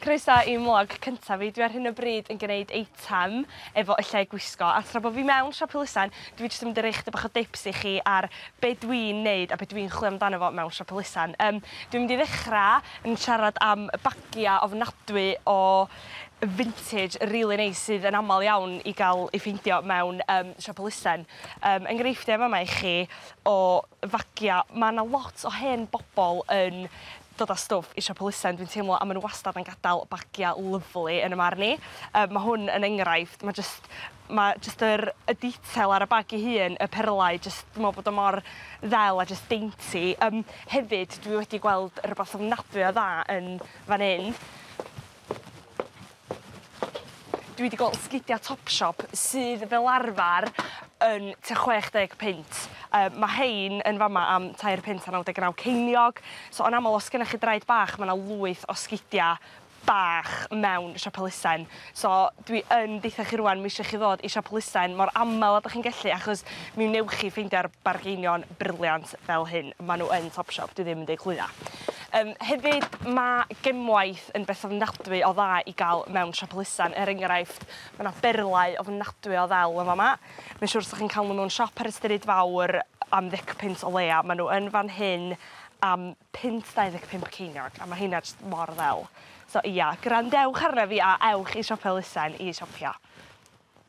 Croeso i mlog cyntaf fi. Dwi ar hyn o bryd yn gneud eitem efo y lle gwisgo a tra bo fi mewn siop elusen dwi jyst yn mynd i roi chydig bach o dips i chi ar be dwi'n neud a be dwi'n chwilio amdano fo mewn siop elusen. Yym dwi'n mynd i ddechra yn siarad am y bagia ofnadwy o vintage rili neis sydd yn amal iawn i ga'l ei ffeindio mewn yym siop elusen. Yym enghreifftie yn fa' 'ma i chi o fagia ma' 'na lot o hen bobol yn dod a stwff i siop elusen dwi'n teimlo a ma' n'w wastad yn gadel bagia lyfli yn 'y marn i. Yy ma' hwn yn enghraifft ma' jyst ma' jyst yr y detail ar y bag 'i hun y perlau jyst dwi me'wl bod o mor ddel a jyst dainty. Yym hefyd dwi wedi gweld rwbath ofnadwy o dda yn fan 'yn. Dwi 'di gweld sgidia Topshop sydd fel arfar yn tua chwech deg punt yy ma' rhein yn fa' 'ma am tair punt a naw deg naw ceiniog so yn amal os gynnoch chi draed bach ma' 'na lwyth o sgidia bach mewn siop elusen so dwi yn deutha chi rŵan m'ishe chi ddod i siop elusen mor amal a 'dach chi'n gellu achos mi wnewch chi ffeindio'r bargeinion briliant fel hyn ma' n'w yn Topshop dwi ddim yn deu' clwydda. Yym hefyd ma' gemwaith yn beth ofnadwy o dda i gael mewn siop elusen, er enghraifft, mae 'na berlau ofnadwy o ddel yn fama. Mae'n siŵr 'sech chi'n cael nhw mewn siop ar y stryd fawr am ddeg punt o leia. Mae nhw yn fan hyn am punt 25 ceiniog, a mae heina jyst mor ddel. So ia, gwrandewch arna fi a ewch i siop elusen i siopio.